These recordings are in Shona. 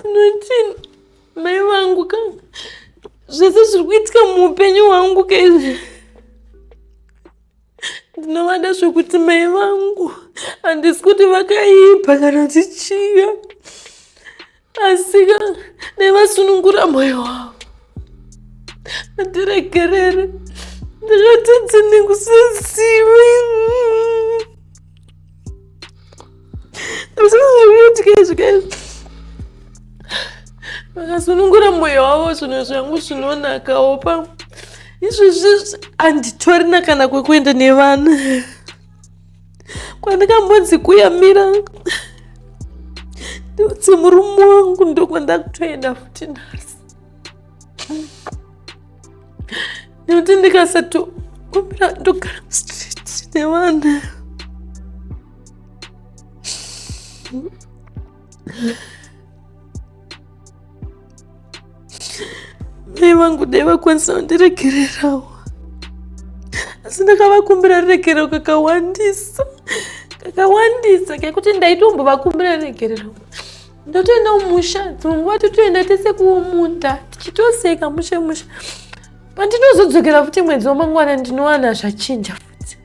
Nothing. Mai vangu ka zvese zviri kuitika muupenyu hwangu ka izvi ndinovada zvekuti mai vangu handisi kuti vakaipa kana tichiya asika dai vasunungura moyo wavo atiregerere ndakatadza nekusazivi ndisazviutikazvikaizvi vakasunungura moyo wavo zvinhu zvangu zvinonakawo pa izvezvi handitorina kana kwekuenda nevana kwandakambonzi kuyamira ndiudze murume wangu ndokwandakutoenda futi nhasi nekuti ndikasatokumbira ndogara mustreet nevana mai vangu dai vakwanisa kundiregererawo asi ndakavakumbira ruregerero kakawandisa kakawandisa kekuti ndaitombovakumbira ruregerero ndotoenda kumusha dzimwe nguva totoenda tese kuomunda tichitoseka mushe mushe pandinozodzokera futi mwedzi wamangwana ndinowana zvachinja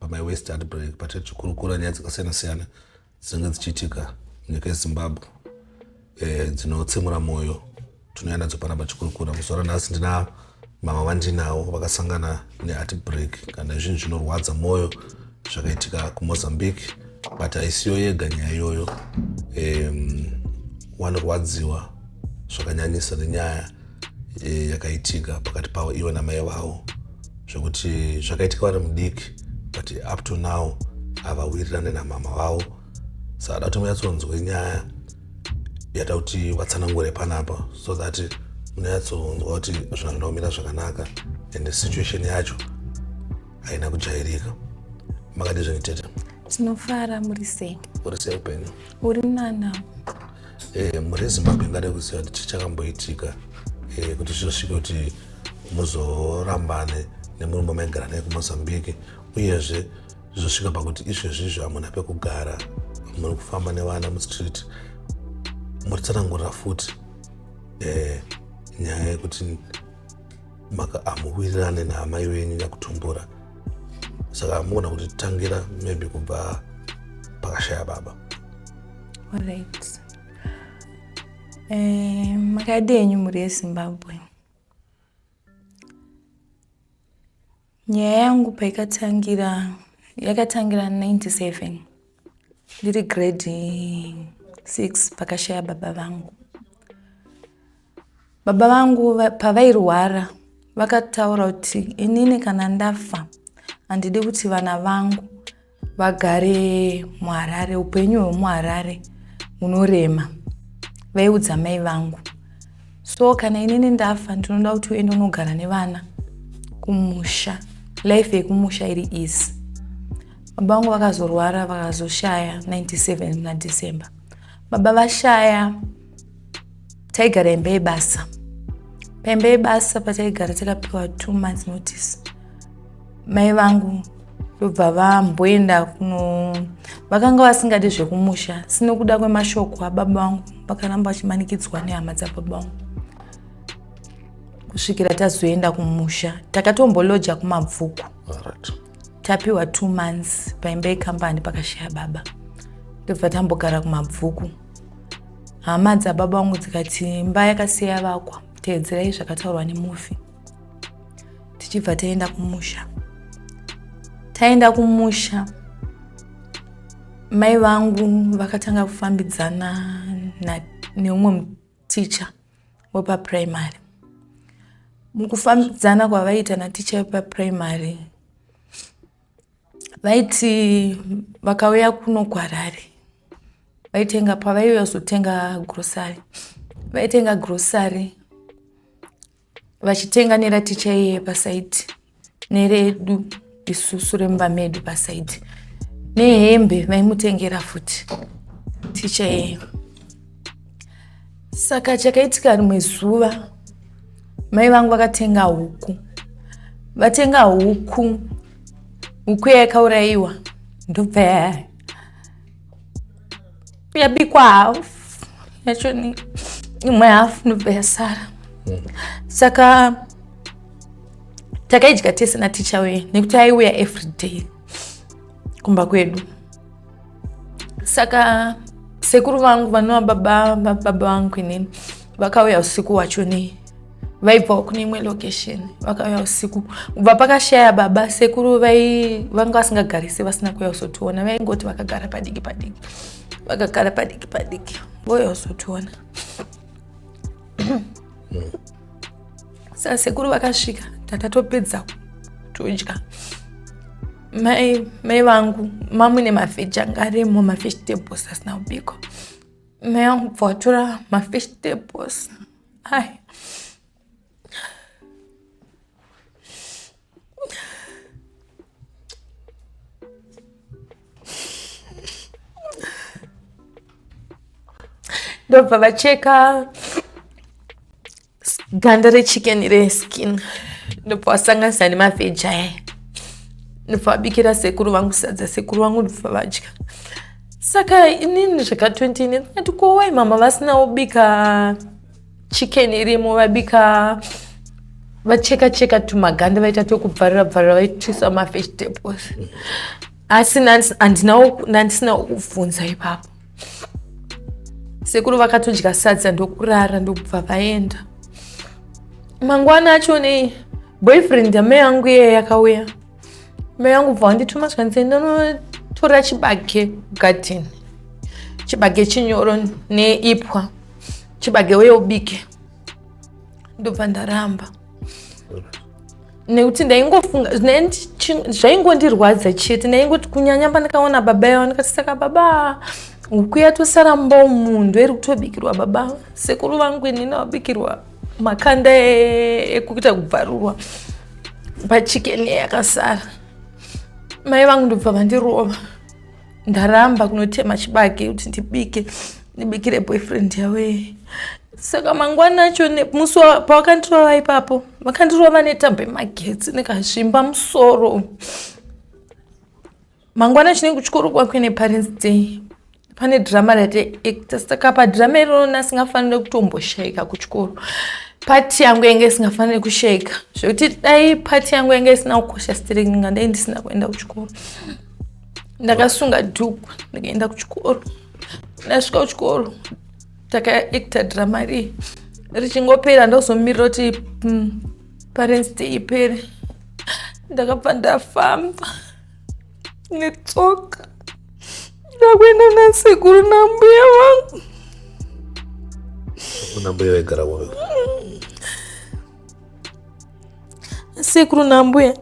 pamai west ati break but tichikurukura nyaya dzakasiyana siyana dzinenge dzichiitika munyika yezimbabwe eh, dzinotsemura mwoyo tinouya nadzo pana pachikurukura muzuva ranhasi ndina mama vandinawo vakasangana neati break kana zvinhu zvinorwadza mwoyo zvakaitika kumozambique but haisiyo yega nyaya iyoyo um, wanorwadziwa zvakanyanyisa nenyaya e, yakaitika pakati pavo ivo namai vavo zvekuti zvakaitika vari mudiki but up to now havawirirane namama vavo saka da kuti munyatsonzwe nyaya yata kuti vatsanangure panapa so that munyatsonzwa kuti zvinhu zvinoda kumira zvakanaka and situation yacho haina kujairika makadizveni tete tinofara muri sei uri sei upenyu uri nana eh, mhuri yezimbabwe ingada kuziva kuti chichakamboitika eh, kuti zvizosvike kuti muzorambane nemurume wamaigara naye kumozambique uyezve zvizosvika pakuti izvezvizvo hamuna pekugara muri kufamba nevana mustreet muri tsanangurira futi eh, nyaya yekuti maka amuwirirane naamai venyu nyakutumbura saka amuona kuti tangira maybe kubva pakashaya baba right. eh, makadi enyu mhuri yezimbabwe Nyaya yangu paikatangira yakatangira 97 ndiri grade 6 pakashaya baba vangu. Baba vangu pavairwara vakataura kuti inini kana ndafa handidi kuti vana vangu vagare muharare upenyu hwemuharare hunorema vaiudza mai vangu so kana inini ndafa ndinoda kuti uende unogara nevana kumusha life yekumusha iri easy baba vangu vakazorwara vakazoshaya 97 nadecember baba vashaya taigara imba yebasa paimba yebasa pataigara takapiwa two months notice mai vangu ndobva vamboenda kuno vakanga vasingadi zvekumusha sinokuda kwemashoko ababa vangu vakaramba vachimanikidzwa nehama dzababa vangu kusvikira tazoenda kumusha takatomboloja kumabvuku tapiwa two months paimba yekambani pakashaya baba ndobva tambogara kumabvuku hama dzababa vangu dzikati imba yakasiya yavakwa teedzerai zvakataurwa nemufi tichibva taenda kumusha taenda kumusha mai vangu vakatanga kufambidzana neumwe muticha wepapuraimary mukufambidzana kwavaiita naticha wepapuraimary vaiti vakauya kuno kwarari vaitenga pavaiuya kuzotenga grocery vaitenga grocery vachitenga neraticha iye pasaiti neredu isusu remumba medu pasaiti nehembe vaimutengera futi ticha iyeyo Saka chakaitika rimwe zuva mai vangu vakatenga huku vatenga huku huku yayakaurayiwa ndobva yabikwa hafu yacho ni imwe hafu ndobva yasara mm. saka takaidya tese naticha uye nekuti aiuya everyday kumba kwedu saka sekuru vangu vanova baba baba vangu inini vakauya usiku wacho nei vaibvawo kune imwe location vakauya usiku kubva pakashaya baba sekuru vanga vasingagarise vasina kuuya kuzotiona vaingoti vakagara padiki padiki vakagara padiki padiki vouya kuzotiona saka sekuru vakasvika takatopedza kudya mai mai vangu mamune mafish anga arimo mafish tables asina kubikwa mai vangu bva vatora mafish tables ai ndobva vacheka ganda rechicken reskin ndopawasanganisa nemavheji aya ndopavabikira sekuru vangu sadza sekuru vangu ndopavadya saka inini zvaka 20 ine ndati kowai mama vasina ubika chicken irimo vabika vacheka cheka tumaganda vaita twekubvarira bvarira vaitisa mavegetables asi nandisina ukubvunza ipapo sekuru vakatodya sadza ndokurara ndokubva vaenda mangwana acho nei boyfriend yamai yangu iye yakauya mai yangu bva wandituma zvanzi ndonotora chibage garden chibage chinyoro neipwa chibage uye ubike ndobva ndaramba nekuti ndaingofunga zvaingondirwadza chete ndaingoti kunyanya pandakaona baba yavo ndikati saka baba huku yatosara mumba umunhu iri kutobikirwa baba sekuru vangu ini ndavabikirwa makanda e-, ekuita kubvarurwa pachikeni yakasara mai vangu ndobva vandirova ndaramba kunotema chibage kuti ndibike ndibikire boyfriend yawee saka mangwana acho musi pawakandirova ipapo vakandirova netambo yemagetsi ndikazvimba musoro mangwana acho nenge kuchikoro kwakwe neparents day pane drama ratiacta saka padhirama iroro nasingafanire kutomboshaika kuchikoro pati yangu yange isingafanire kushaika zvekuti dai pati yangu yange isina kukosha sitiringa ndai ndisina kuenda kuchikoro ndakasunga dhuku ndikaenda kuchikoro ndasvika kuchikoro takaekta drama rii richingopera ndozomirira kuti mm, parents day ipere ndakabva ndafamba netsoka ndakuenda nasekuru nambuya vangu nambuya vaigara kupi sekuru nambuya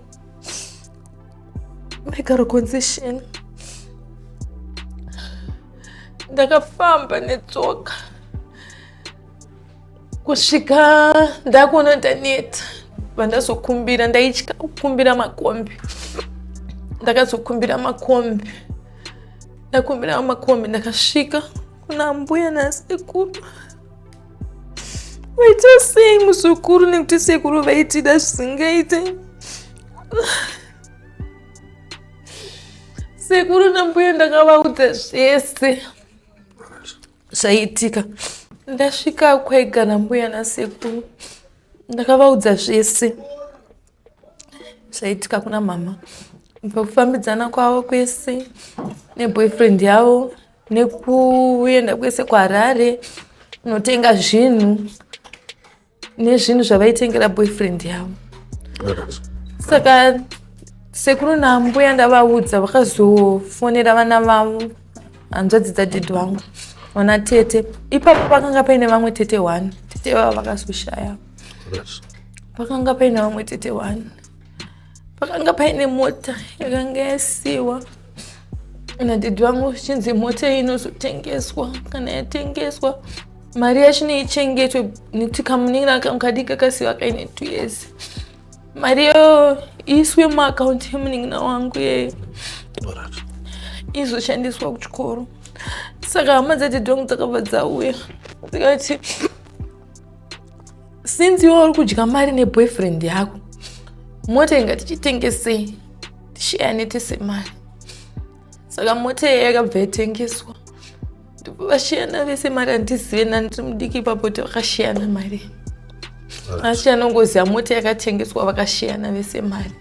mekarokonzesheni ndakafamba netsoka kusvika ndakuona ndaneta vandazokumbira ndaitya kukumbira makombi ndakazokumbira makombi ndakumbira makombi ndakasvika kuna mbuya nasekuru waita sei muzukuru nekuti sekuru vaitida zvisingaite sekuru nambuya ndakavaudza zvese zvaitika ndasvika kwega nambuya nasekuru ndakavaudza zvese zvaitika kuna mama pakufambidzana kwavo kwese neboyfriend yavo nekuenda kwese kuharare kunotenga zvinhu nezvinhu zvavaitengera boyfriend yavo saka sekuru nambuya ndavaudza vakazofonera vana vavo hanzvadzi dzadhedhi vangu vana tete ipapo pakanga paine vamwe tete one tete vavo vakazoshaya pakanga paine vamwe tete wani pakanga paine mota yakanga yasiwa nadhidhi vangu zvichinzi mota iyi inozotengeswa kana yatengeswa mari yacho neichengetwe nekuti kamunin'ina kangu kadiki kakasiwa kaine two years mari iyo iiswe muakaunti yemunin'ina wangu iyeyo izoshandiswa kuchikoro saka hama dzadhidhi vangu dzakabva dzauya dzikati since iwe uri kudya mari neboyfriend yako mota inga tichitengesei tisheyane tese mari saka mota iye yakabva yatengeswa vashiyana vese mari handizive nani tiri mudiki ipapo kuti vakashiyana mari asi anongoziva mota yakatengeswa vakashiyana vese mari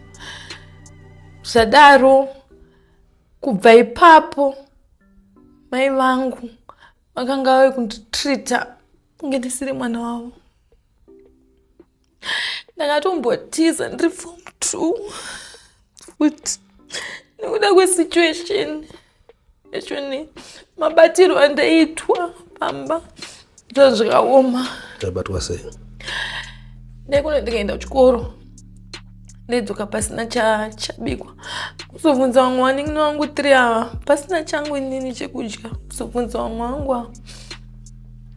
zvadaro kubva ipapo mai vangu vakanga vave kunditreata kunge ndisiri mwana wavo ndakatombotiza ndiri form two futi nekuda kwesituation echoni mabatirwo andaiitwa pamba zva zvikaoma taibatwa sei ndaikunendikaenda kuchikoro ndaidzoka pasina chabikwa kuzobvunza vamwe vanin'ina vangu tiri ava pasina changu inini chekudya kuzobvunza vamwe vangu ava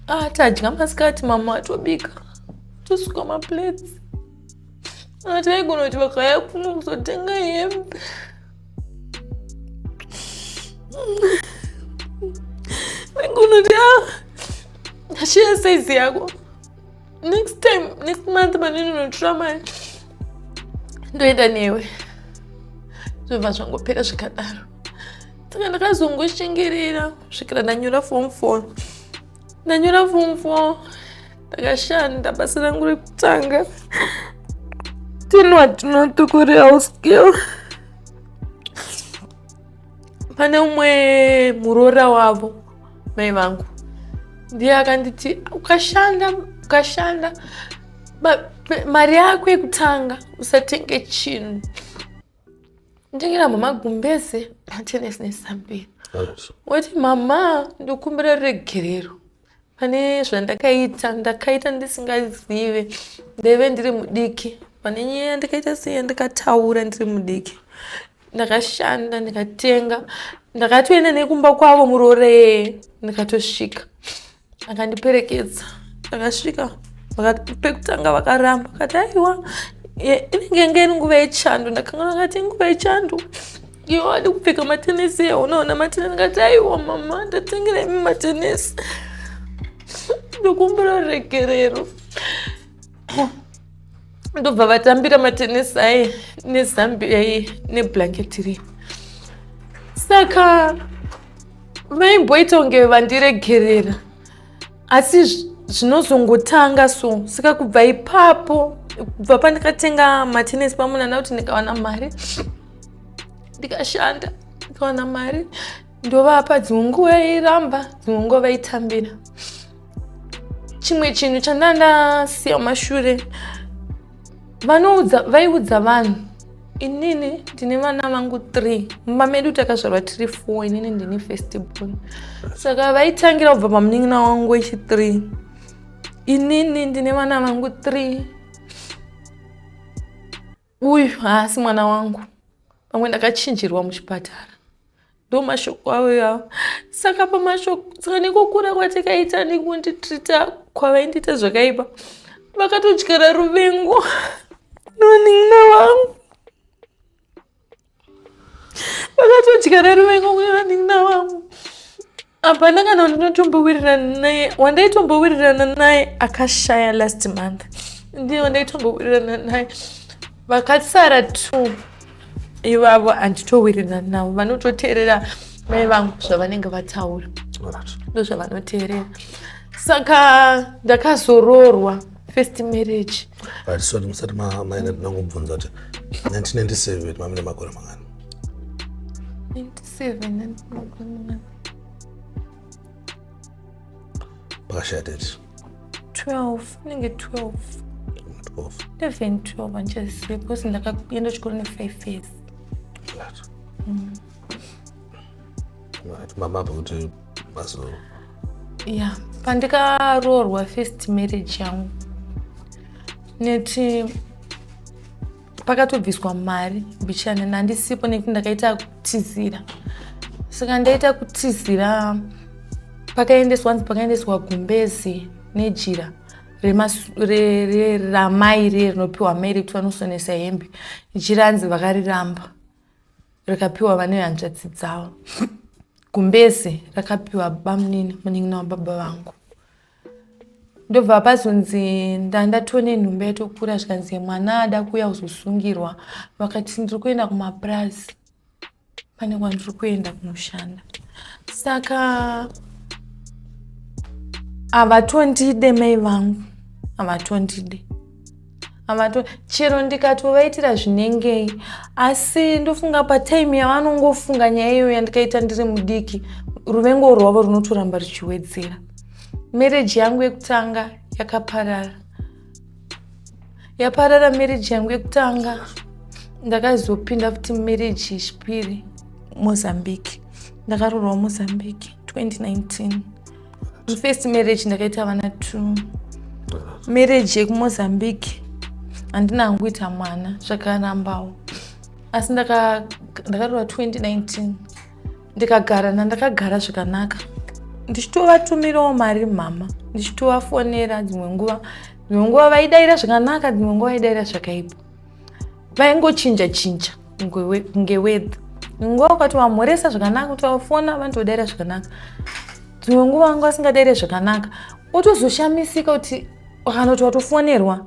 ah tadya masikati mama atobika tosuka maplates ah, taigona kuti vakaya kuno kuzotenga hembe taigona kuti a ah, shiya saizi yako next time next month pandinonotora mari ndoenda newe zvobva zvangopera zvikadaro saka ndakazongoshengerera kusvikira ndanyora form four ndanyora form four ndakashanda basa rangu rekutanga tinwa tinotukureal skill pane umwe muroora wavo mai vangu ndiye akanditi ukashanda ukashanda mari yako yekutanga usatenge chinhu ndengera mama gumbeze matenesi nesambira woti mama ndokumbira ruregerero pane zvandakaita ndakaita ndisingazive ndaive ndiri mudiki pane nyaya yandakaita sei yandikataura ndiri mudiki ndakashanda ndikatenga ndakatoenda nekumba kwavo muroree ndikatosvika akandiperekedza ndakasvika pekutanga vakaramba kati aiwa inenge inge iri nguva yechando ndakanga ndakati nguva yechando Iwo adi kupfeka matenesi ewo unoona matenesi ngati aiwa mama ndatengera imi matenesi ndokumbira regerero ndobva vatambira matenesi aye nezambi aye neblanketi riye saka vaimboita kunge vandiregerera asi zvinozongotanga so saka kubva ipapo kubva pandikatenga matenesi pamunana kuti ndikawana mari ndikashanda ndikawana mari ndovapa dzimwe nguva yairamba dzimwe nguva vaitambira chimwe chinhu chandandasiya mashure vanoudza vaiudza vanhu inini ndine vana vangu three mumba medu takazvarwa tiri four inini ndine first born saka vaitangira kubva pamunin'ina wangu wechithree inini ndine vana vangu three uyu haasi mwana wangu pamwe ndakachinjirwa muchipatara ndomashoko avo ivavo saka pamashoko saka nekukura kwatakaita nekunditrita kwavaindiita zvakaipa vakatodyara ruvengo nonin'ina vangu vakatodyara ruvengo kune vanin'ina vangu hapana kana wandinotombowirirana naye wandaitombowirirana naye akashaya last month ndiye wandaitombowirirana naye vakasara two ivavo handitowirirana navo vanototeerera mai vangu zvavanenge vataura ndozvavanoteerera saka ndakazororwa first marriage but so musati maina ndinangobvunza kuti 1997 mamine makore mangani Seven. Pakashaya tete. Twelve. Inenge twelve. Twelve. Eleven, twelve handichazive because ndakaenda chikoro nefive years. Right. Mm. Right. Mama pakuti mazo. Yeah. Pandikaroorwa first marriage yangu. Neti pakatobviswa mari mbichana nandisipo nekuti ndakaita kutizira saka ndaita kutizira pakaendeswa hanzi pakaendeswa gumbezi nejira ramai riye rinopiwa mai rekuti vanosonesa hembe jira hanzi vakariramba rikapiwa vane hanzvadzi dzavo gumbezi rakapiwa bamunini munin'ina wababa vangu ndobva pazonzi ndatone nhumba yatokura zvikanzi mwana ada kuuya kuzosungirwa vakati ndiri kuenda kumapurazi pane kwandiri kuenda kunoshanda saka havatondide mai vangu havatondide amato chero ndikatovaitira zvinengei asi ndofunga patime yavanongofunga nyaya iyo yandikaita ndiri mudiki ruvengo rwavo runotoramba ruchiwedzera mereji yangu yekutanga yakaparara yaparara mereji yangu yekutanga ndakazopinda futi mereji yechipiri mozambique ndakarorwa mozambique 2019 first marriage ndakaita vana two marriage yekumozambique handina hangu kuita mwana zvakarambawo asi ndakarowa 2019 ndikagara nandakagara zvakanaka ndichitovatumirawo mari mhama ndichitovafonera dzimwe nguva dzimwe nguva vaidaira zvakanaka dzimwe nguva vaidaira zvakaipa vaingochinja chinja kunge wedha nguva ukati wamhoresa zvakanaka kuti wafona vanoti wadaira zvakanaka dzimwe nguva anga asingadaire zvakanaka otozoshamisika kuti kana kuti watofonerwa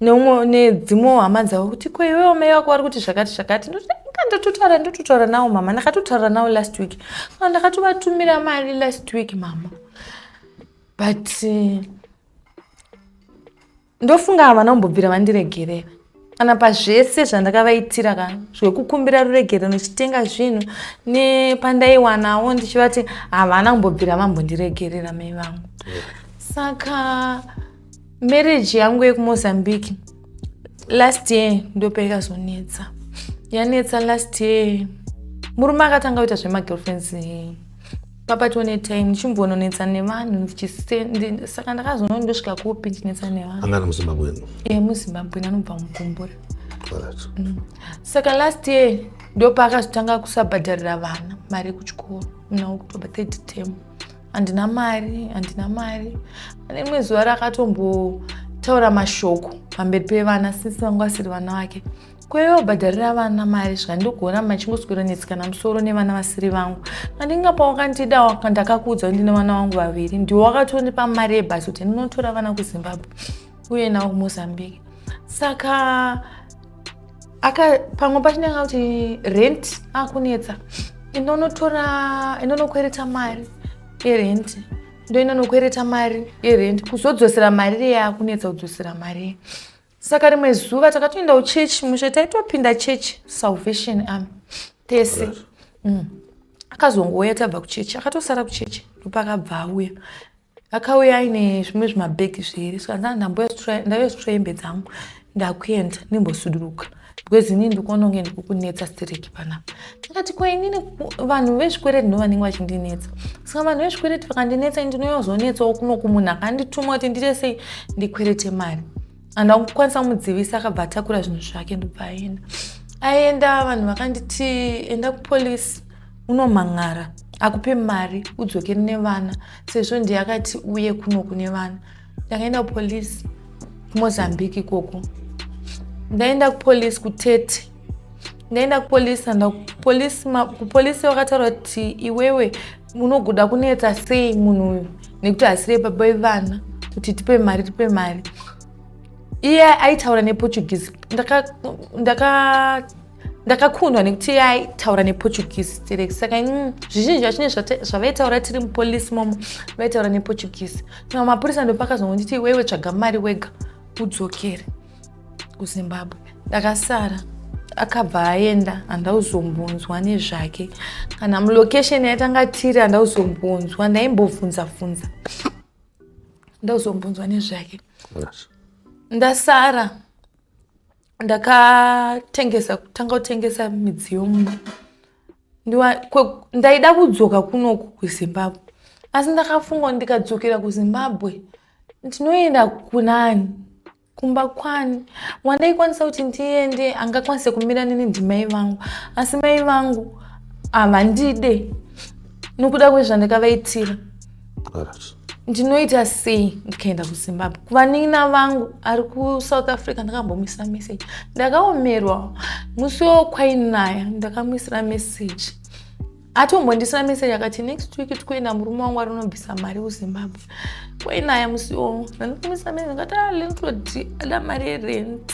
neumwe nedzimwewo hama dzavo kuti ko iwewo mai wako vari kuti zvakati zvakati ndatotaura ndototaura nawo mama ndakatotaura nawo last week ah, ndakatovatumira mari last week mama but uh, Ndofunga havana kumbobvira vandiregerera kana pazvese zvandakavaitira ka zvekukumbira ruregerero ndichitenga zvinhu nepandaiwanawo ndichivati havana kumbobvira vambondiregerera mai vangu saka marriage yangu yekumozambique last year ndope ikazonetsa yanetsa last year murume akatanga kuita zvemagirlfriends pabatwa netime ndichimbononetsa nevanhu saka ndakazonoo ndosvika kupi ndichinetsa nevanhu angana muzimbabweni e muzimbabweni anobva mugumbura mm. saka last year ndopaakazotanga kusabhadharira vana mari yekuchikoro muna wekutoba third term handina mari handina mari ane rimwe zuva rakatombotaura mashoko pamberi pevana sisi vangu vasiri vana vake kwaiva kubhadharira vana mari zvika ndikuona machingoswera netsikana musoro nevana vasiri vangu andingapa wakandida ndakakuudza kuti ndine vana vangu vaviri ndiwo wakatondipa mari yebhasi kuti ndinotora vana kuzimbabwe uye nawo kumozambique saka aka pamwe pachinenge kuti rent akunetsa inonotora inonokwereta mari yerent ndo inonokwereta mari yerent kuzodzosera mari reye akunetsa kudzosera mari saka rimwe zuva takatoendawo church mushe taitopinda church salvation am tese mm. akazongouya tabva kuchechi akatosara kuchechi ndopakabva auya akauya aine zvimwe zvimabhegi zviiri saka ndandamboya ndaiya zvitroyembe dzangu ndakuenda ndimbosuduruka because inini ndikuona kunge ndikukunetsa stereki panapa ndikati ko inini vanhu vezvikwereti ndo vanenge vachindinetsa saka vanhu vezvikwereti vakandinetsa ini ndinoyozonetsawo kuno kumunhu akandituma kuti ndite sei ndikwerete mari and akukwanisa kumudzivisa akabva atakura zvinhu zvake ndobva aenda aenda vanhu vakanditi enda kupolisi unomhan'ara akupe mari udzokere nevana sezvo ndiye akati uye kuno kune vana ndakaenda kupolice kumozambique ikoko ndaenda kupolice kutete ndaenda kupolice anda kupolice vakataura kuti iwewe unogoda kunetsa sei munhu uyu nekuti asire baba vevana kuti tipe mari tipe mari iye aitaura neportuguese ndakatanga ndakakundwa nekuti yaitaura neportuguese stereki saka mm, zvizhinji zvachine zvavaitaura tiri mupolisi momo vaitaura neportuguese saka mapurisa ndopakazongonditi iwewe tsvaga mari wega udzokere kuzimbabwe ndakasara akabva aenda handauzombonzwa nezvake kana mulocation yaitanga tiri handauzombonzwa ndaimbobvunza bvunza ndauzombonzwa nezvake ndasara ndakatengesa kutanga kutengesa midziyo mumba ndaida kudzoka kunoku kuzimbabwe asi ndakafunga ndikadzokera kuzimbabwe ndinoenda kunani kumba kwani wandaikwanisa kuti ndiende angakwanise kumira nini ndimai vangu asi mai vangu havandide nokuda kwezvandakavaitira ndinoita sei ndikaenda kuzimbabwe kuvanin'ina vangu ari kusouth africa ndakambomuisira message ndakaomerwa musi wo kwainaya ndakamuisira message atombondisira message akati next week tikuenda murume wangu ari unobvisa mari kuzimbabwe kwainaya musi wo ndandikamuisira message ndikati ah, lentodi ada mari yerent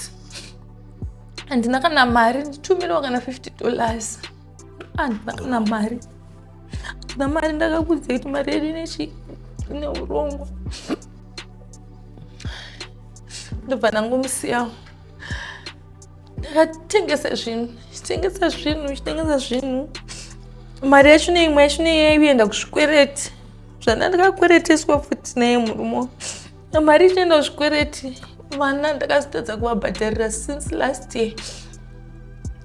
handina kana mari nditumirewo kana 50 dollars handina kana mari handina mari ndakakudzei kuti mari yedu inechi ine urongwa ndobva ndangomusiyawo ndakatengesa zvinhu chitengesa zvinhu chitengesa zvinhu mari yacho neimwe yacho neiyaiyenda kuzvikwereti zvandandakakwereteswa futi naye murume mari ichienda zvikwereti vana ndakazotadza kuvabhadharira since last year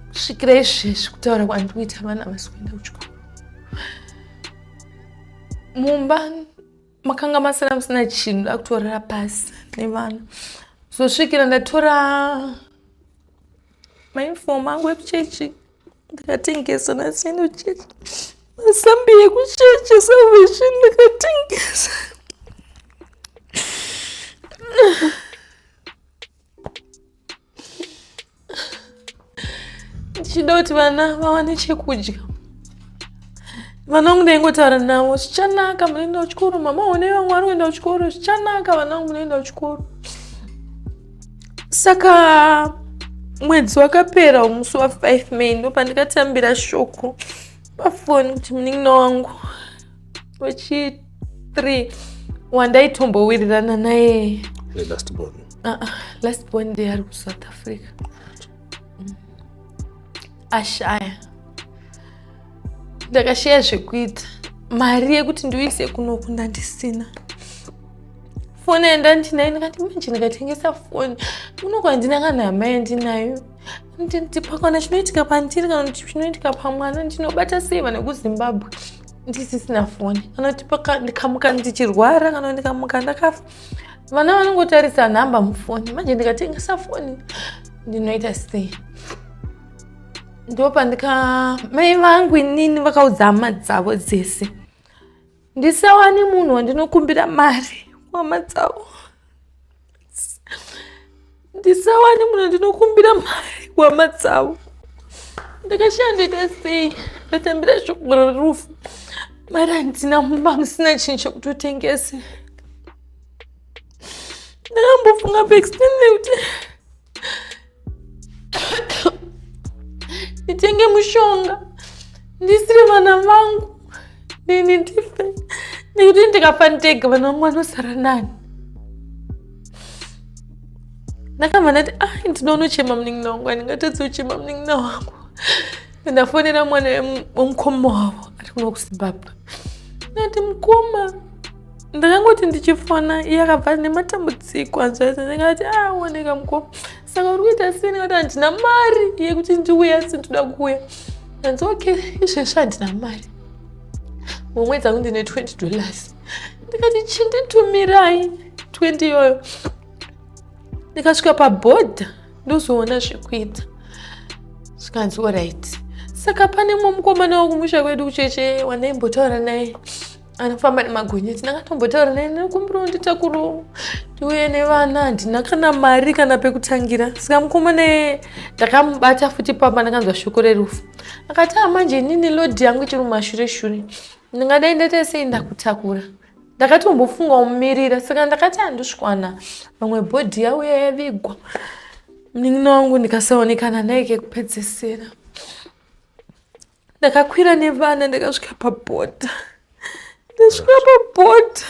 kusvikira izvezvi kutaura kwandiri kuita vana vasi kuenda kuchikoro mumba makanga masina musina chinhu ndakutorera pasi nevana zosvikira ndatora mainifomu angu ekuchechi so, ndakatengesa nasino church masambi ekuchechi salvation ndakatengesa ndichida kuti vana vawane chekudya vanangu ndaingotaura navo zvichanaka munoenda kuchikoro mama one vamwari kuenda kuchikoro zvichanaka vanangu munoenda kuchikoro saka mwedzi wakapera umusi wa 5 may ndopandikatambira shoko pafoni kuti munin'ina wangu wechi 3 wandaaitombowirirana naye lastbon ah, ah, ndeari kusouth africa ashaya ndakashaya zvekuita mari yekuti ndiuise kunoku ndandisina foni yenda ndinayo ndikati manje ndikatengesa foni unoko handina kana hama yandinayo ndipakana chinoitika pandiri kana kuti chinoitika pamwana ndinobata sei vana kuzimbabwe ndisisina foni kana kuti ndikamuka ndichirwara kana ndikamuka ndakafa vana vanongotarisa nhamba mufoni manje ndikatengesa foni ndinoita sei ndopandika mai vangu inini vakaudza hama dzavo dzese ndisawani munhu wandinokumbira mari wama dzavo ndisawane munhu ndinokumbira mari hwama dzavo ndakashaya ndoita sei ndatambira shoko rerufu mari handina mumba musina chinhu chekutotengese ndakambofunga paextende kuti nditenge mushonga ndisiri vana vangu nini ndife nekuti ndikafa ndega vana vangu vanosara nani ndakabva ndati ai ah, ndinoona uchema munin'ina wangu andingatadzi uchema munin'ina wangu ndafonera mwana wemukoma wavo ari kuno kuzimbabwe ndati mukoma ndakangoti ndichifona iye akabva nematambudziko anzvaisa ndingati aoneka ah, mukoma saka uri kuita sei nekuti handina mari yekuti ndiuye asi ndoda kuuya hanzi okay izvezvi handina mari mumwe dzangu ndine 20 dollars ndikati chinditumirai 20 iyoyo ndikasvika pabhodha ndozoona zvekuita zvikanzi orit saka pane mumwe mukomana wakumusha kwedu kucheche wandaimbotaura naye anofamba nemagonyeti ndakatombotaura naye nekumbira nditakuru ndiuye nevana handina kana mari kana pekutangira saka mukomana ye ndakamubata futi pamba ndakanzwa shoko rerufu akati a ah, manje inini lodhi yangu ichiri mumashure shure ndingadai ndaita sei ndakutakura ndakatombofunga kumirira saka ndakati handisvikwana vamwe bhodhi yauya yavigwa munin'ina wangu ndikasaonekana naye kekupedzesera ndakakwira nevana ndakasvika pabhodha ndasvika pabhodha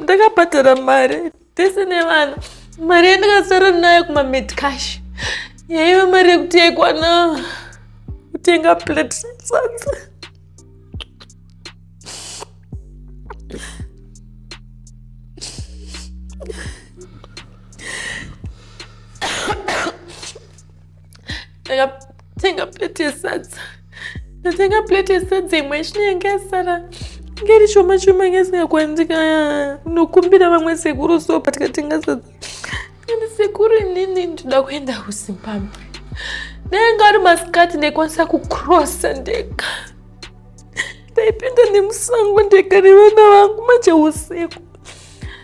ndakabhadhara mari tese nevana mari yandakasara nayo kumamedcash yaiva mari yekuti yaikwana kutenga plate sadza ndakatenga plate yesadza ndatenga plate yesadza imwe chino yanga yasara inge ri shoma shoma inge isingakwa ndika nokumbira vamwe sekuru so but katenga sadza ende sekuru inini ndinoda kuenda kuzimbabwe ndainga ari masikati ndaikwanisa kucrossa ndega ndaipinda nemusango ndega nevana vangu manje usiku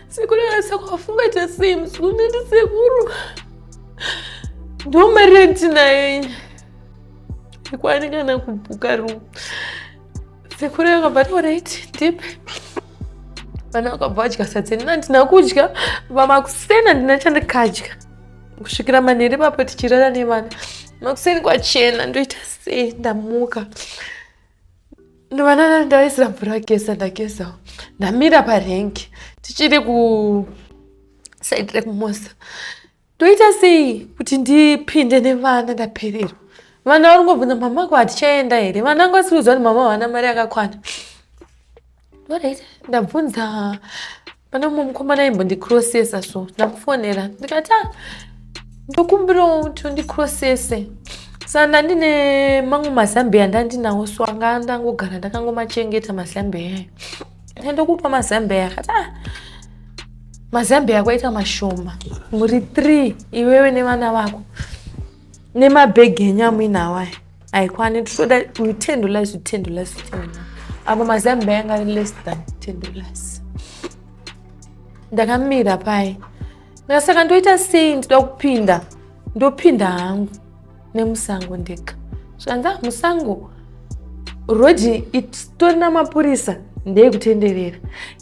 Sekuru akasaka wafunga cha same sekuru neti sekuru. Ndoma renti naye. Ikwani kana kubuka room. Sekuru akabva to right deep. Vana vakabva vadya sadza nina ndina kudya vamakusena ndina chandikadya kusvikira manheri papo tichirara nevana makuseni kwachena ndoita sei ndamuka ndovanana ndaisira mvura kesa ndakesa ndamira parenki tichiri kusaidi rekumosa ndoita sei kuti ndipinde nevana ndapererwa vana vari ngobvunza mama ko hatichaenda here vana ngosiudzwa kuti mama havana mari yakakwana Alright, ndabvunza pane mumwe mukomana imbondicrossesa so ndamufonera ndikati ah, ndokumbirawo kuti undicrossese sa ndandine mamwe mazambiya ndandinawo so anga ndangogara ndakangomachengeta mazambiya ayo ndokupa mazambiya akati ah, mazambiya kwaita mashoma muri three iwewe nevana vako nemabhegi enyu amuinawo aya haikwane titoda ten dollars ten dollars apa mazambi ayanga ari less than ten dollars ndakamira paye ndikasaka ndoita sei ndida kupinda ndopinda hangu nemusango ndega zvikanzi ah, musango rhodhi itori namapurisa ndeyekutenderera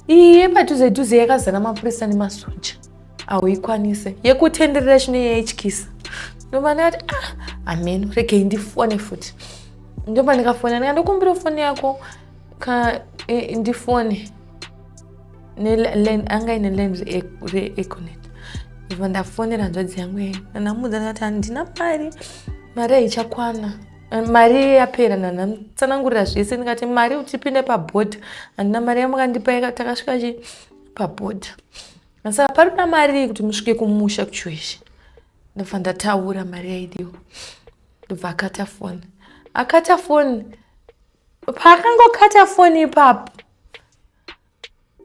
iye padhuze dhuze yakazara mapurisa nemasoja hauikwanise yekutenderera chino yaityisa ndomba ndikati ah ameno regei ndifone futi ndomba ndikafona ndika ndokumbira foni yako ka e, ndifone anga ine land reeconet iva ndafonera nzvadzi yangu yei nanamuudza ndikati handina mari mari haichakwana mari yapera nanamtsanangurira zvese ndikati mari utipinde pabhodha handina mari yamukandipa takasvika chi pabhodha saka parina mari kuti musvike kumusha kuchueshe ndobva ndataura mari yaidiwa ndobva akata foni akata foni paakangokata foni ipapo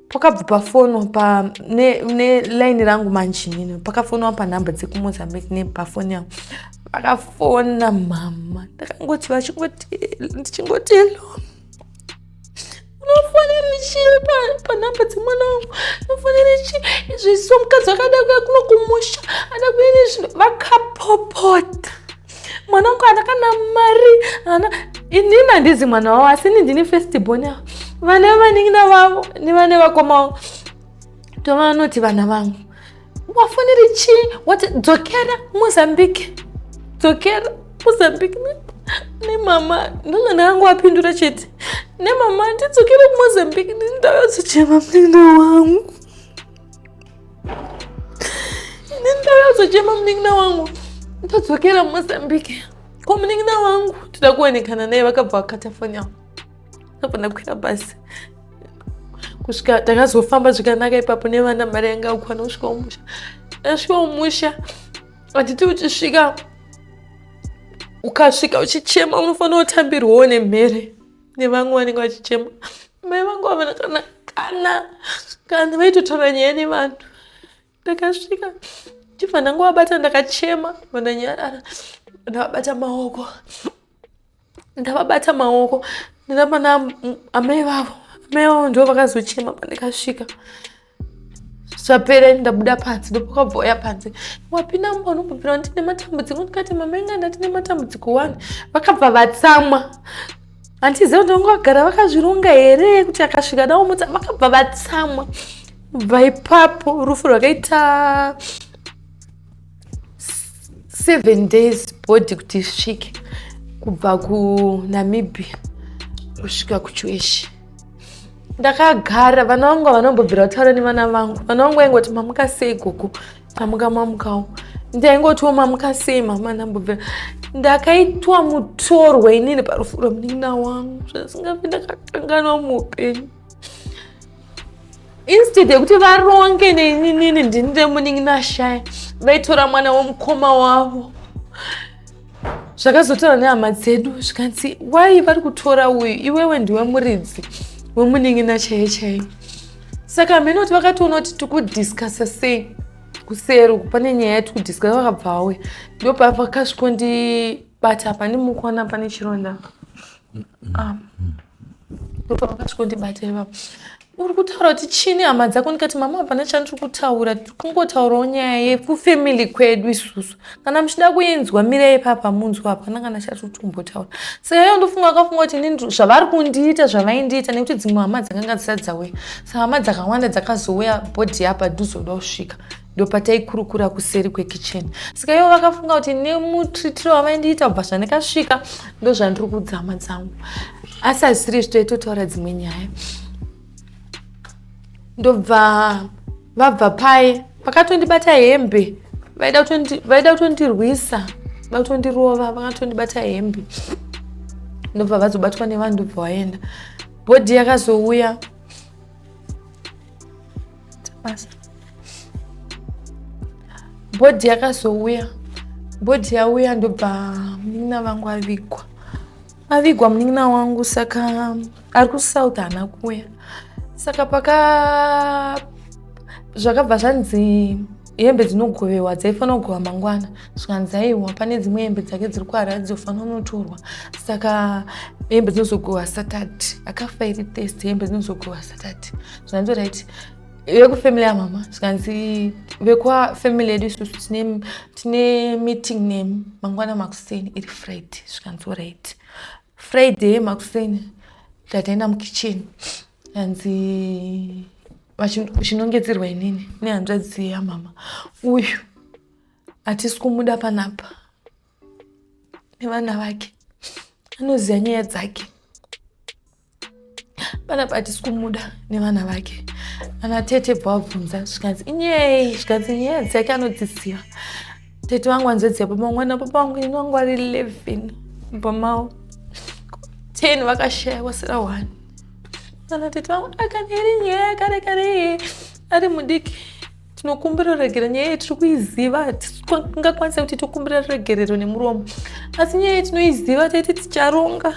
pakabva pafono nelaini rangu manjinini pakafonwa panhamba dzekumozambique nepafoni yangu pakafona mama ndakangoti vachingoti ndichingoti hello unofanira chii panhamba dzemwana wangu unofanira chii izvi so mukadzi akada kuya kuno kumusha ada kuene zvinhu vakapopota mwana wangu ana kana mari ana inini handizi mwana wavo asi ini ndini festibon avo vana vanin'ina vavo nevane vakoma vangu tovanoti vana vangu wafaniri chii wati dzokera mozambique dzokera mozambique nemama ndona ndakangu apindura chete nemama ndidzokere kumozambique ndindayozochema munin'ina wangu ini ndindayozochema munin'ina wangu ndodzokera mozambique ko munin'ina wangu toda kuonekana naye vakabva vakata foni yavo apa ndakwira basi kusvika takazofamba zvikanaka ipapo nevana mari yanga akwana kusvika umusha tasvika umusha handiti uchisvika ukasvika uchichema unofanira kutambirwawo nemhere nevamwe vanenge vachichema mai vangu vavana kana kana kana vaitotaura nyaya nevanhu ndakasvika chibva ndangowabata ndakachema vandanyarara ndavabata maoko ndavabata maoko ndinapana amai vavo amai vavo ndivo vakazochema pandikasvika zvapera ini ndabuda panze ndopakabvouya panze wapinda mumba unombobvira ndine matambudziko ndikati mamainga ndati nematambudziko wani vakabva vatsamwa hantiziva kuti vanga vagara vakazvironga here kuti akasvika daomutsa vakabva vatsamwa kubva ipapo rufu rwakaita seven days body kuti isvike kubva kunamibia kusvika kuchueshi ndakagara vana vangu vanombobvira kutaura nevana vangu vana vangu vaingoti mamuka sei gogo amuka mamukawo ndaingotiwo mamuka sei mama ndambobvira ndakaitwa mutorwa inini parufu rwemunin'ina wangu zvasingafi ndakakanganwa muupenyu instead yekuti varonge neinini ndinire munin'ina shaya vaitora mwana womukoma wavo zvakazotaura nehama dzedu zvikanzi wai vari kutora uyu iwewe ndiwe muridzi wemunin'ina chaiye chaiye saka hameno kuti vakatoona kuti tikudiscasa sei kuseri uku pane nyaya yati kudiscasa vakabva vauya ndopavakasvikondibata apa ndimukona pane chironda Rupa vakati kundibata ivavo uri kutaura kuti chini hama dzako ndikati mama hapana chandiri kutaura tiri kungotaurawo nyaya yekufamily kwedu isusu kana muchida kuinzwa mirai papa munzwa hapana kana chatiri kutombotaura saka iyo ndofunga akafunga kuti ini zvavari kundiita zvavaindiita nekuti dzimwe hama dzakanga dzisati dzauya saka hama dzakawanda dzakazouya bhodhi yapadhuzoda kusvika ndopataikurukura kuseri kwekitchen saka ivo vakafunga kuti nemutritiro wavaindiita kubva zvandikasvika ndozvandiri kudzama dzangu asi hazvisiri izvi toitotaura dzimwe nyaya ndobva vabva paye vakatondibata hembe vaida kutondirwisa vaida kutondirova vakatondibata hembe ndobva vazobatwa nevanhu ndobva vaenda bhodhi yakazouya basa bhodhi yakazouya bhodhi yauya ndobva munin'ina vangu avigwa avigwa munin'ina wangu saka ari kusouth haana kuuya saka paka zvakabva zvanzi hembe dzinogovewa dzaifanira kugova mangwana zvikanzi aiwa pane dzimwe hembe dzake dziri kuharare dzinofanira unotorwa saka hembe dzinozogohwa satati akafa iri test hembe dzinozogohwa satati zvikanzi right vekufamily yamama zvikanzi vekufamily yedu isusu tine meeting nemi mangwana makuseni iri friday zvikanzi right friday makuseni tataenda mukitchen anzi vachinongedzerwa inini nehanzvadzi yamama uyu hatisi kumuda panapa nevana vake anoziva nyaya dzake panapa hatisi kumuda nevana vake ana tete bwabvunza zvikanzi inyei zvikanzi nyaya dzake anodziziva tete vangu hanzvadzi yapama mwana papa vangu ini vangu vari 11 pamao 10 vakashaya kwasira 1 kana tete vangu akaneri nyaya yakare kare ari mudiki tinokumbira ruregerero nyaya iyi tiri kuiziva tingakwanisa kuti tokumbira ruregerero nemuromo asi nyaya iyi tinoiziva taiti ticharonga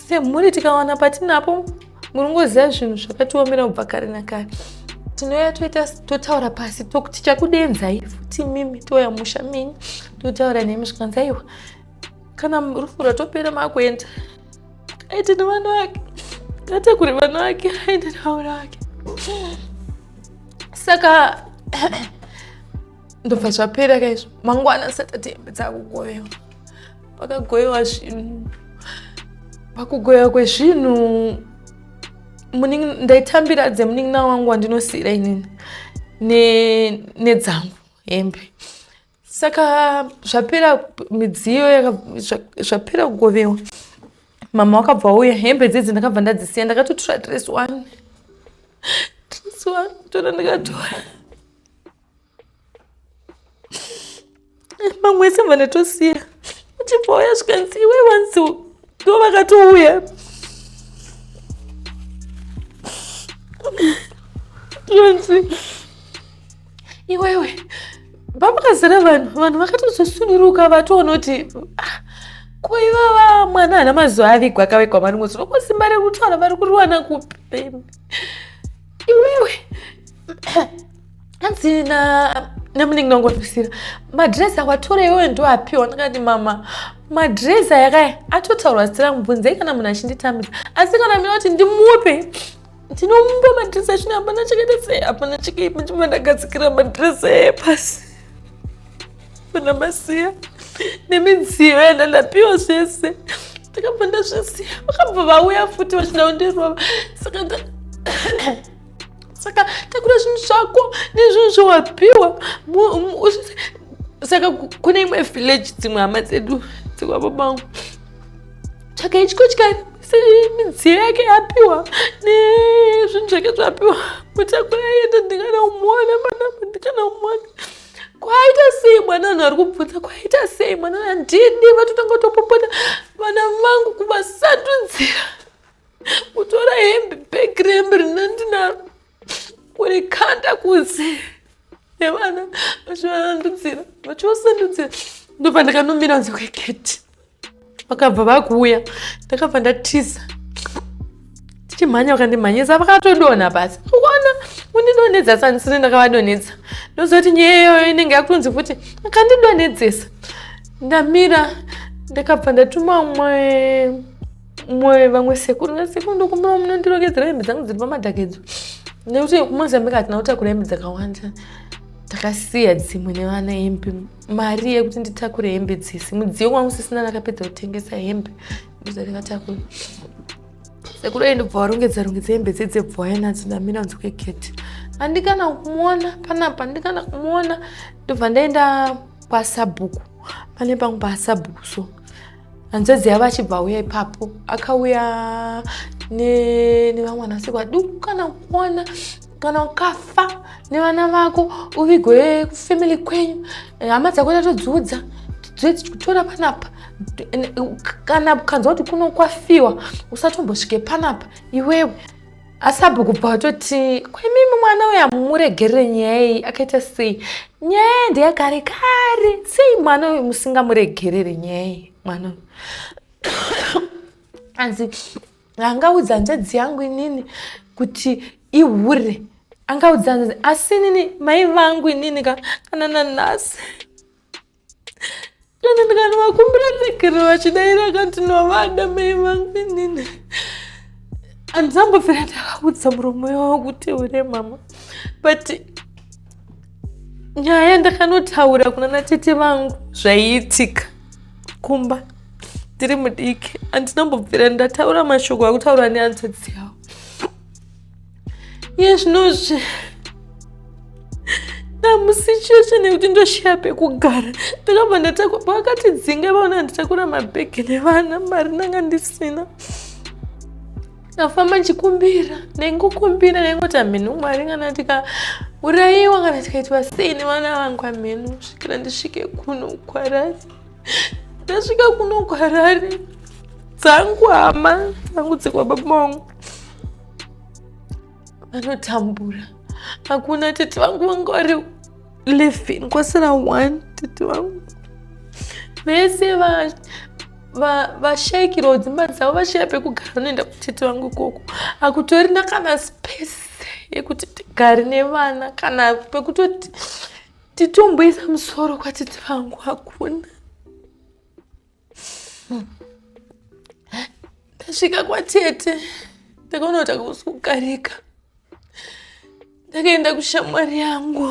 semhuri tikawana patinapo muringoziva zvinhu zvakatiomera kubva kare nakare tinouya toita totaura pasi tichakudenzai futi mimi touya musha menyu totaura nemi zvikanzi aiwa kana rufu rwatopera makuenda aite nevana vake ngatakure vana vake aende nevana vake saka ndobva zvapera kaizvo mangwana asati atembe dzakugoyewa pakagoyewa zvinhu pakugoyewa kwezvinhu ndaitambira dzemunin'ina wangu wandinosiira inini nedzangu hembe saka zvapera midziyo zvapera kugovewa mama wakabva wauya hembe dzidzi ndakabva ndadzisiya ndakatotora dress one dress one tona ndikatora mamwe ese mva ndatosiya uchibva wauya zvikanzi iwe wanzi ndo vakatouya zvanzi iwewe pamukazara vanhu vanhu vakatozosunuruka vatoona kuti ah, kuivava mwana ana mazuva avigwa akavigwa mari mwedzi loko simba rekutaura vari kuriwana kupi iwewe hanzi na namunenge nangondisira madress awatora iwewe ndo apiwa ndikati mama madress ayakaya atotaurwa zita rangu bvunzei kana munhu achinditambira asi kana mina kuti ndimupe Ndinomupa madress achina hapana chakaita sei hapana chakaipa chimba ndagadzikira madress eye pasi. Pana masiya nemidziyo yandandapiwa zvese ndakabva ndazvisiya vakabva vauya futi vachida kundirova saka saka takura zvinhu zvako nezvinhu zvawapiwa saka kune imwe village dzimwe hama dzedu dzikwababangu tsvaga ichikotyani midziyo yake yapiwa nezvinhu zvake zvapiwa mutakura yenda ndikana umona manama ndikana umona kwaita sei mwana vanhu vari kubvunza kwaita sei mwana vana ndini vatotanga kutopopota vana vangu kuvasandudzira kutora hembe begrembe rina ndinaro kuri kanda kunze nevana vachivasandudzira vachivasandudzira ndobva ndakanomira nzi kweketi vakabva vakuuya ndakabva ndatiza tichimhanya vakandimhanyisa vakatodonha pasi kuona undidonhedza sanisini ndakavadonhedza ndozoti nyaya iyoyo inenge yakutonzi futi akandidonhedzesa ndamira ndakabva ndatuma umwe umwe vamwe sekuru nasekuru ndokumbira munondirongedzera hembe dzangu dziri pamadhakedzo nekuti kumozambique hatina kutakura hembe dzakawanda takasiya dzimwe nevana hembe mari yekuti nditakure hembe dzese mudziyo wangu sisina nakapedza kutengesa hembe ndozandingatakure sekuru ayi ndobva warongedza rongedza hembe dzedze bva waya nadzo ndamira kunze kwegeti andikana kumuona panapa andikana kumuona ndobva ndaenda kwasabhuku pane pangu pasabhuku so hanzvadzi yavo achibva auya ipapo akauya nevamwanasikwa duku kana kuona kana ukafa nevana vako uvigwe kufamily kwenyu eh, hama dzako tatodziudza tichitora panapa kana ukanzwa kuti kunokwafiwa usatombosvike panapa iwewe asi abho kubva watoti kwaimimi mwana uya muregerere nyaya iyi akaita sei nyaya ndeyagare kare sei mwana uyu musingamuregerere nyaya iyi mwana uyu anzi angaudza hanzvadzi yangu inini kuti ihure angaudza hanzvadzi asi inini mai vangu inini ka kana nanhasi kana ndikanovakumbira tsegere vachidaira akanti novada mai vangu inini handisambofira ndavakudza muromo wavo kuti ure mama but nyaya ndakanotaura kuna natete vangu zvaiitika kumba ndiri mudiki handinambobvira ndataura mashoko akutaura nehanzvadzi yavo iye zvinozvi ndamusicheshe nekuti ndoshaya pekugara ndakabva ndatakwa pavakatidzinga vaona nditakura mabhegi nevana mari ndanga ndisina ndafamba ndichikumbira ndaingokumbira ndaingoti hamhenu mwari kana tikaurayiwa kana tikaitwa sei nevana vangu hamhenu svikira ndisvike kuno kwarari ndasvika kuno kwarari dzangu hama dzangu dzekwa baba vangu vanotambura hakuna tete vangu vanga vari living kwasina one tete vangu vese vashaikirwa dzimba dzavo vashaya pekugara vanoenda kutete vangu ikoko hakutorina kana space yekuti tigari nevana kana pekutoti titomboisa musoro kwatete vangu hakuna ndasvika kwatete ndakaona kuti akusi kukarika ndakaenda kushamwari yangu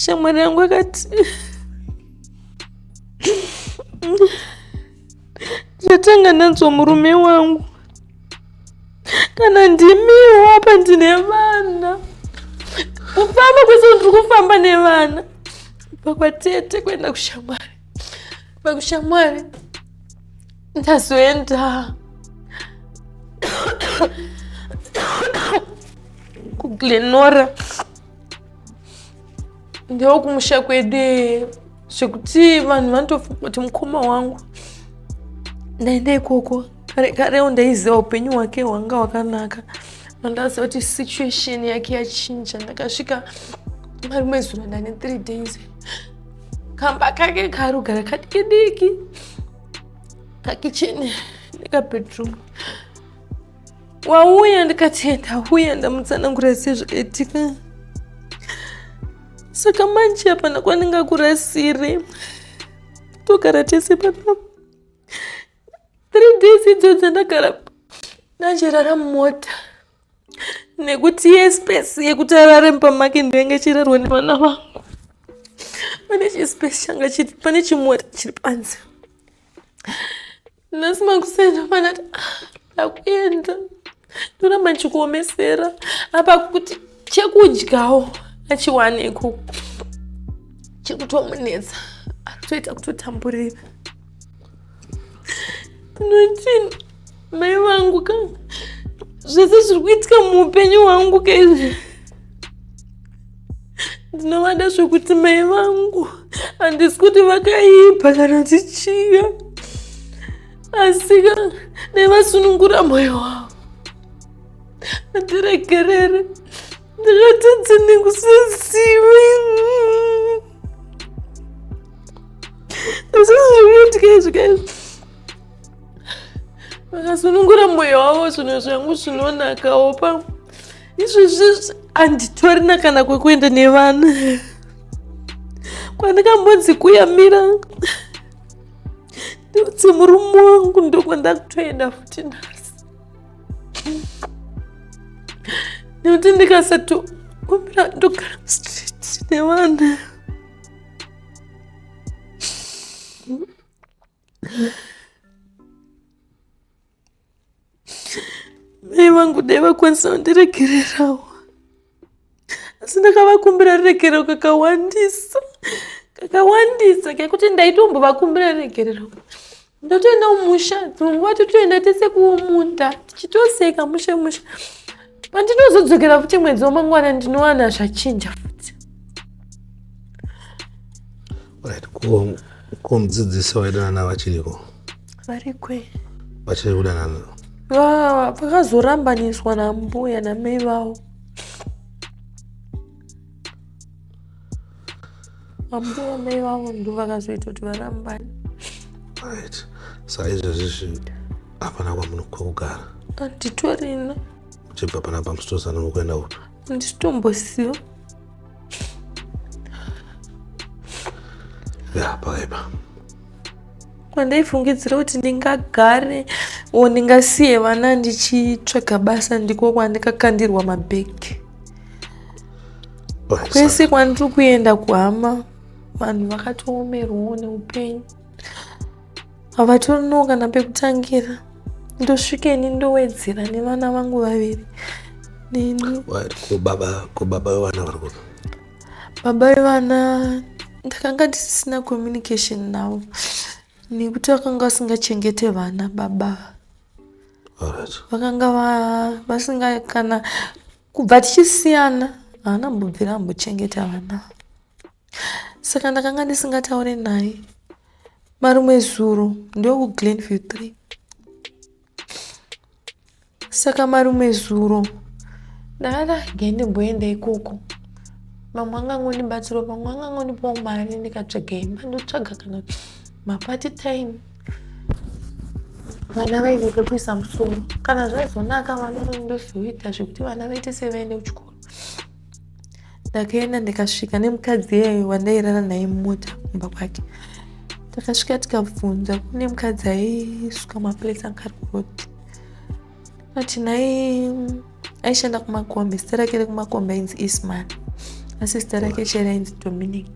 shamwari yangu akati Ndatanga nanzwa murume wangu. Kana ndimiwo apa ndine vana. Kufamba kwese ndiri kufamba nevana. Kubva kwatete kuenda kushamwari. Kubva kushamwari. Ndazoenda. Kuglenora. Ndoo kumusha kwedee. zvekuti vanhu vanotofunga kuti mukoma wangu ndaenda ikoko kare karewo ndaiziva upenyu hwake hwanga hwakanaka mandaziva kuti situation yake yachinja ndakasvika marimwe zuro ndane three days kamba kake karugara kadiki diki kakicheni nekabedroom wauya ndikati ndauya ndamutsanangura sezvakaitika saka manje hapana kwandingakurasiri togara tese panapa three days idzo dzandagara ndachirara mumota nekuti yespesi yekuti arare mumba make ndoinge ichirarwa nevana vangu pane chispesi changa chiri pane chimota chiri panze nhasi makuseni ndofana ti ndakuenda ndoramba ndichikuomesera apa kuti chekudyawo achiwane ikoko chekutomunetsa akutoita kutotamburira ndinotii mai vangu ka zvese zviri kuitika muupenyu hwangu kaizvi ndinovada zvekuti mai vangu handisi kuti vakaipa kana tichiya asika dai vasunungura moyo wavo andiregerere ndakatadza nekusazivi asizvikuitikaizvikaizvi vakasunungura moyo wavo zvinhu zvangu zvinonakawo pamwe izvezvezvi handitorina kana kwekuenda nevana kwandikambonzi kuyamira ndiudze murume wangu ndokwandakutoenda futi nhasi nekuti ndikasatokumbira ndogara mustreet nevana mai vangu dai vakwanisa kundiregererawo asi ndakavakumbira ruregerero kakawandisa kakawandisa kekuti ndaitombovakumbira ruregerero ndotoenda kumusha dzimwe nguva totoenda tese kumunda tichitoseka mushe mushe pandinozodzokera futi mwedzi wamangwana ndinowana zvachinja futi Right, ko ko mudzidzisi waidanana vachiriko? Variko. Vachiri kudanana. Ah, pakazorambaniswa nambuya namai vavo. Ambuya mai vavo ndovakazoita kuti varambane. Right. Saizvozvi zvi hapana kwamunokugara. Anditorina. Chibva panapa musitozana kuenda upi? ndisitombosiyo yapaipa kwandaifungidzira kuti ndingagare o ndingasiye vana ndichitsvaga basa ndiko kwandikakandirwa mabhegi kwese kwandiri kuenda kuhama vanhu vakatoomerwawo neupenyu havatorino kana pekutangira ndosvika ini ndowedzera nevana vangu vaviri neni ko baba vevana vari kuno baba vevana ndakanga ndisisina communication navo nekuti vakanga vasingachengete vana baba vakanga vasinga kana kubva tichisiyana haana mbobvira ambochengeta vana saka ndakanga ndisingataure naye marumwe zuro ndokuglenview 3 saka marumwe zuro ndakada gai ndimboenda ikoko mamwe angangondibatsiro mamwe angangondipawo mari ndikatsvaga imba ndotsvaga kana mapati time vana vaine pekuisa musoro kana zvaizonaka vana ndozviita zvekuti vana vaite sevaende kuchikoro ndakaenda ndikasvika nemukadzi iyeyo wandairara naye mumota kumba kwake takasvika tikabvunza kune mukadzi aisuka maplace anga ari kuroti ati nai aishanda kumakombe zita rake rekumakombe ainzi isman asi zita rake chera ainzi dominic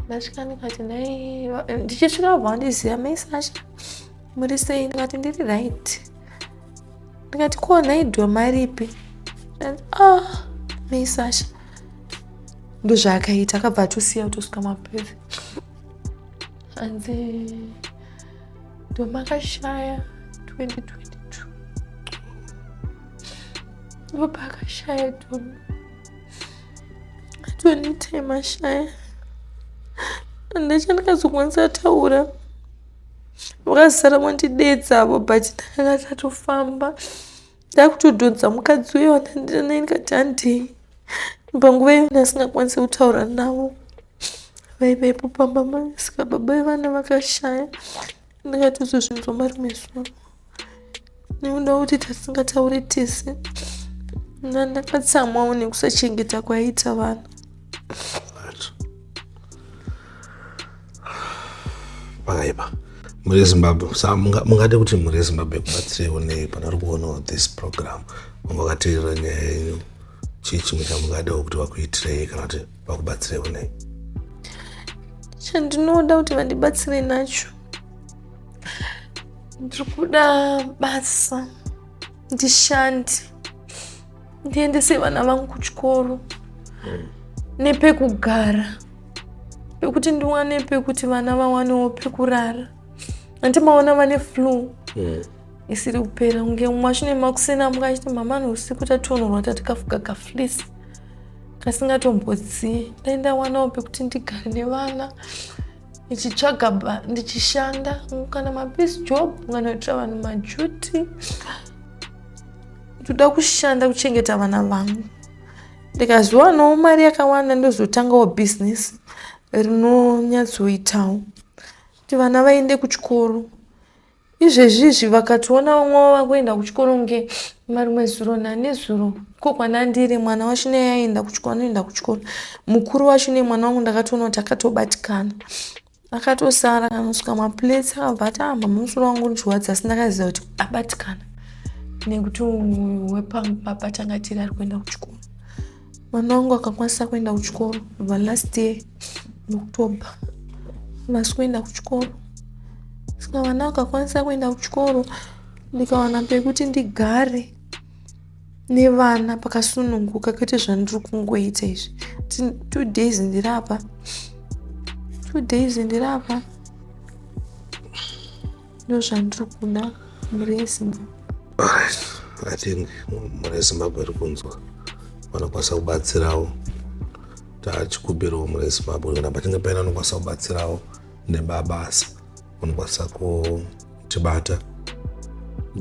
ndasvika ndikati nai ndichisvika vabva vandiziva maisasha muri sei ndikati ndiri right ndikati ko nhai dhoma aripi ah nei sasha ndozvaakaita akabva atosiya kutosvika mapeve hanzi ndomakashaya 2022 ndopaakashaya dhomi atonitema shaya andachandikazokwanisa taura vakasara vandidedza avo but ndakanga tatofamba ndakutodhonza mukadzi uyo wandandira naye ndikati handei panguva iyo ndasingakwanisi kutaura navo vaivepo pamba masikababa vevana vakashaya ndakatozozvinzwa marimwe zuva nekuda kuti tasingatauri tese ndandakatsamwawo nekusachengeta kwaiita vanhu pakaipa muri zimbabwe sa mungade kuti muri zimbabwe kubatsirewo nei pana ri kuonawo this program vanga vakateerera nyaya yenyu chii chimwe chamungadewo kuti vakuitirei kana kuti vakubatsirewo nei chandinoda kuti vandibatsire nacho ndiri kuda basa ndishande ndiendese vana vangu kuchikoro hmm. nepekugara pekuti ndiwane pekuti vana vawanewo pekurara hanti maona vane flu hmm. isiri kupera kunge mwashine makuseni amuka achiti mama nousiku tationorwa tatikafuga kaflisi kasingatombodzii dai ndawanawo pekuti ndigare nevana ndichitsvaga ndichishanda kana mapeace job kana kuitira vanhu majuti ndoda kushanda kuchengeta vana vangu ndikazowanawo mari yakawanda ndozotangawo bhizinesi rinonyatsoitawo kuti vana vaende kuchikoro izvezvizvi vakationa vamwe vavo vakuenda kuchikoro kunge marimwe zuro nanezuro ko kwanandiri mwana wacho neyaenda kuchikoro anoenda kuchikoro mukuru wacho nemwana wangu ndakatoona kuti akatobatikana akatosara kanosuka maplates akabva ati amba ah, musoro wangu ndichiwadza asi ndakaziva kuti abatikana nekuti wepamu papa tanga tiri ari kuenda kuchikoro Mwana wangu akakwanisa kuenda kuchikoro kubva last year October havasi kuenda kuchikoro saka vana vakakwanisa kuenda kuchikoro ndikawana pekuti ndigare nevana pakasununguka kwete zvandiri kungoita izvi two days ndiri apa two days ndiri apa ndozvandiri kuda mhuri yezimbabwe i think mhuri yezimbabwe iri kunzwa vanokwanisa kubatsirawo tachikumbirawo mhuri yezimbabwe kana pachinge paina anokwanisa kubatsirawo nebabasa unokwanisa kutibata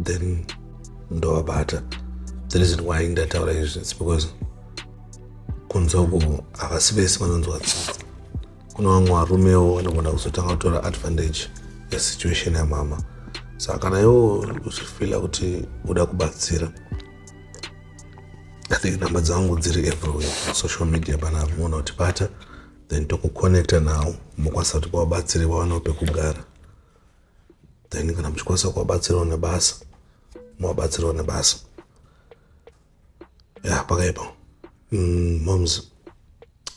then ndovabata the reason why ndataura izvi its because kunze uko havasi vese vanonzwa tsitsi Kune vamwe varumewo vanogona kuzotanga kutora advantage yesituation yamama saka kana iwo uchifila kuti uda kubatsira i think number dzangu dziri everywhere social media pana mona utibata then tokuconnecta nawo mokwanisa kuti kwawabatsire wawanawo pekugara then kana muchikwanisa kuwabatsirawo nebasa muwabatsirawo nebasa ya pakaipa mm, moms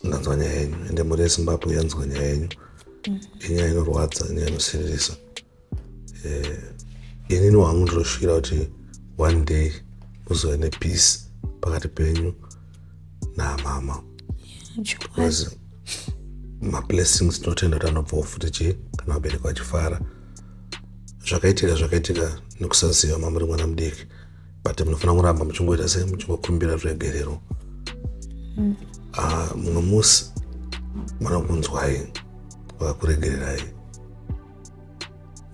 ndanzwa nyaya yenyu ende mhuri yezimbabwe yanzwa nyaya yenyu mm. inyaya inorwadza inyaya inosiririsa eh, inini wangu ndinoshuvira kuti one day muzove nepeace pakati penyu namama because mablessings tinotenda kuti anobvawo futi chii kana vabereki vachifara zvakaitika zvakaitika nekusaziva mamuri mwana mudiki but munofanira kuramba muchingoita sei muchingokumbira zvegerero mm. ah, mumwe mm. uh, musi vanokunzwai vakakuregererai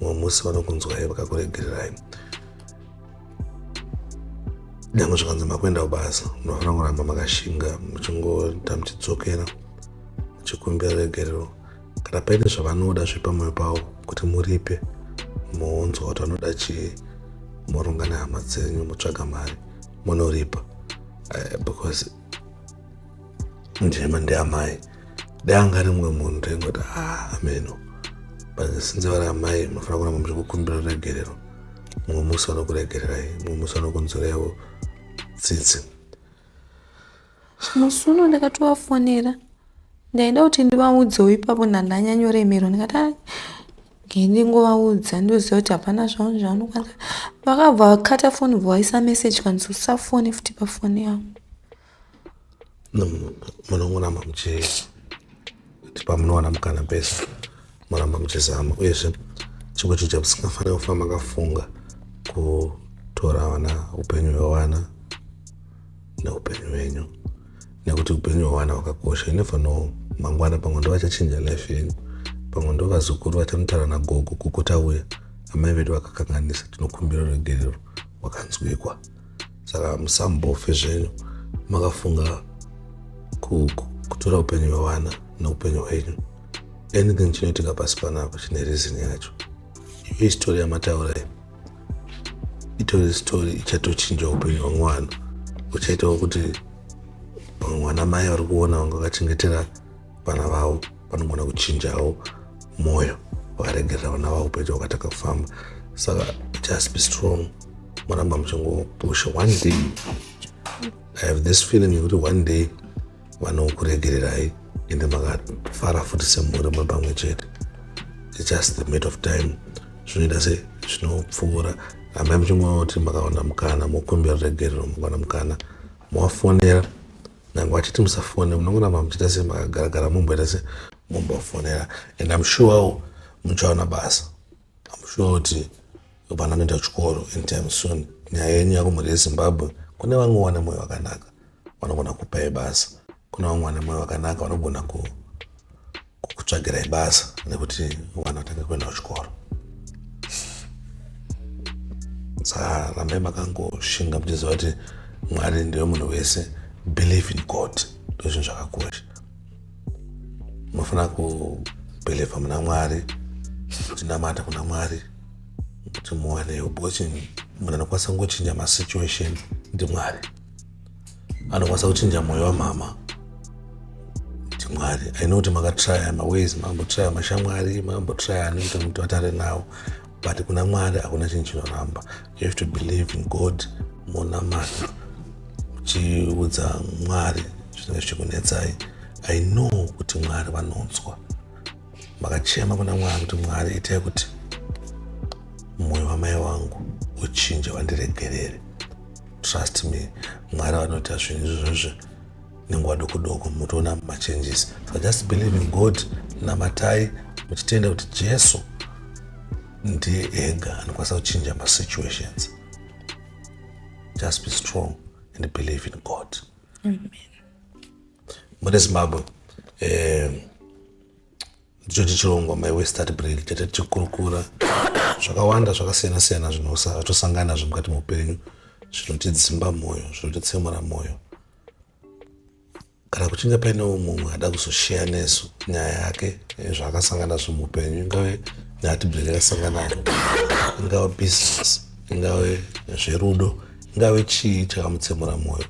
mumwe musi vanokunzwai vakakuregererai nyangwe zvikanzi makuenda kubasa munofanira kuramba makashinga muchingoita muchidzokera muchikumbira regerero kana paine zvavanoda zviri pamwoyo pavo kuti muripe mounzwa kuti vanoda chii moronga nehama dzenyu motsvaga mari monoripa uh, because ndima ndiamai dai anga ari mumwe munhu taingoti ah, ameno but since vari amai munofanira kuramba muchikukumbira ruregerero mumwe musi vanokuregererai mumwe musi vanokunzwireiwo tsitsi musi uno ndakatovafonera ndaida kuti ndivaudzewo ipapo ndandanyanyoremerwa ndikati ah, ndingovaudza ndoziva kuti hapana zvavo zvavanokwanisa vakabva vakata foni bva vaisa meseji kanzi usafone futi pafoni yangu munongonama muchee Pamunowana mukana pese moramba muchizama uyezve chikuchicha musingafanira kufa makafunga kutora vana upenyu hwevana neupenyu hwenyu nekuti upenyu hwevana hwakakosha inever know mangwana pamwe ndovachachinja life yenyu pamwe ndovazukuru vachamutara nagogo kukuta uya amai vedu vakakanganisa tinokumbira ruregerero wakanzwikwa saka musambofe zvenyu makafunga kutora upenyu hwevana neupenyu hwenyu anything chinoitika pasi panapa chine reason yacho iyo isitori yamataura iyi itori sitori ichatochinja upenyu hwemwana uchaitawo kuti mwana mai vari kuona vanga vakachengetera vana vavo vanogona kuchinjawo mwoyo vakaregerera vana vavo upenyu wakatanga kufamba saka just be strong moramba muchingopusha one day i have this feeling yekuti one day vanokuregererai ende makafara futi semhuri muri pamwe chete its just the mate of time zvinoita se zvinopfuura amai muchingoti makawana mukana mokumbira ruregerero makawana mukana mowafonera nyange vachiti musafone munongoramba muchiita sei makagaragara mumboita sei mumbofonera and im sure wo muchaona basa im sure kuti vana vanoenda kuchikoro anytime soon nyaya yenyu yakumhuri yezimbabwe kune vamwe vane mwoyo wakanaka vanogona kupai basa kuna vamwe vane mwoyo wakanaka vanogona ku kukutsvagirai basa nekuti mwana atange kuenda kuchikoro saa rambai makangoshinga muchiziva kuti mwari ndiwe munhu wese believe in god ndozvinhu zvakakosha munofanira kubhilivha muna mwari kutinamata kuna mwari kuti muwanewo because munhu anokwanisa kungochinja masituation ndimwari anokwanisa kuchinja mwoyo wamhama kuti mwari i know kuti makatraya maways makambotraya mashamwari makambotraya ani kuti muti vatare nawo but kuna mwari hakuna chinhu chinoramba you have to believe in god monamata muchiudza mwari zvinenge zvichikunetsai i know kuti mwari vanonzwa makachema kuna mwari kuti mwari itai kuti mwoyo wamai wangu uchinje wandiregerere trust me mwari vanoita zvinhu izvozvo nenguva doko doko mutoona machanges so just believe in god namatai muchitenda kuti jesu ndiye ega anokwanisa kuchinja masituations just be strong and believe in god Amen. mune zimbabwe eh, ndicho tichirongwa my westart brail chete tichikurukura zvakawanda zvakasiyana siyana zvinotosangana nazvo mukati meupenyu zvinotidzimba mwoyo zvinotitsemura mwoyo kana kuchinge paine umumwe ada kuzosheya nesu nyaya yake eh, zvaakasangana nazvo muupenyu ingave nyaya tibheri yakasangana nayo ingave business ingave zverudo ingave chii chakamutsemura mwoyo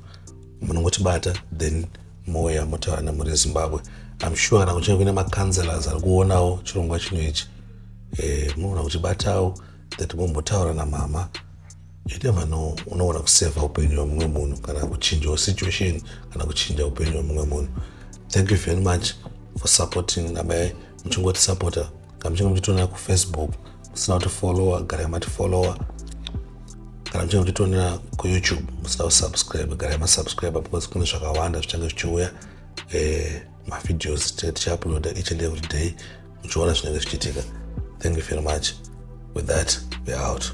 munongotibata then mouya motaura nemhuri yezimbabwe im sure kana kuchinge kuine macounselors ari kuonawo chirongwa chino ichi eh, munoona kuti batawo that mombotaura namama yetevano unoona kuseva upenyu hwemumwe munhu kana kuchinjawo situation kana kuchinja upenyu hwemumwe munhu thank you very much for supporting namai muchingotisapota kamuchinge muchitionera kufacebook musina kuti followa garai mati followa kana muchinge muchitionera kuyoutube musina kusubscribe garai masubscribe because kune zvakawanda zvichange zvichiuya eh, mavideos tichauploada each and every day muchiona zvinenge zvichiitika thank you very much with that we're out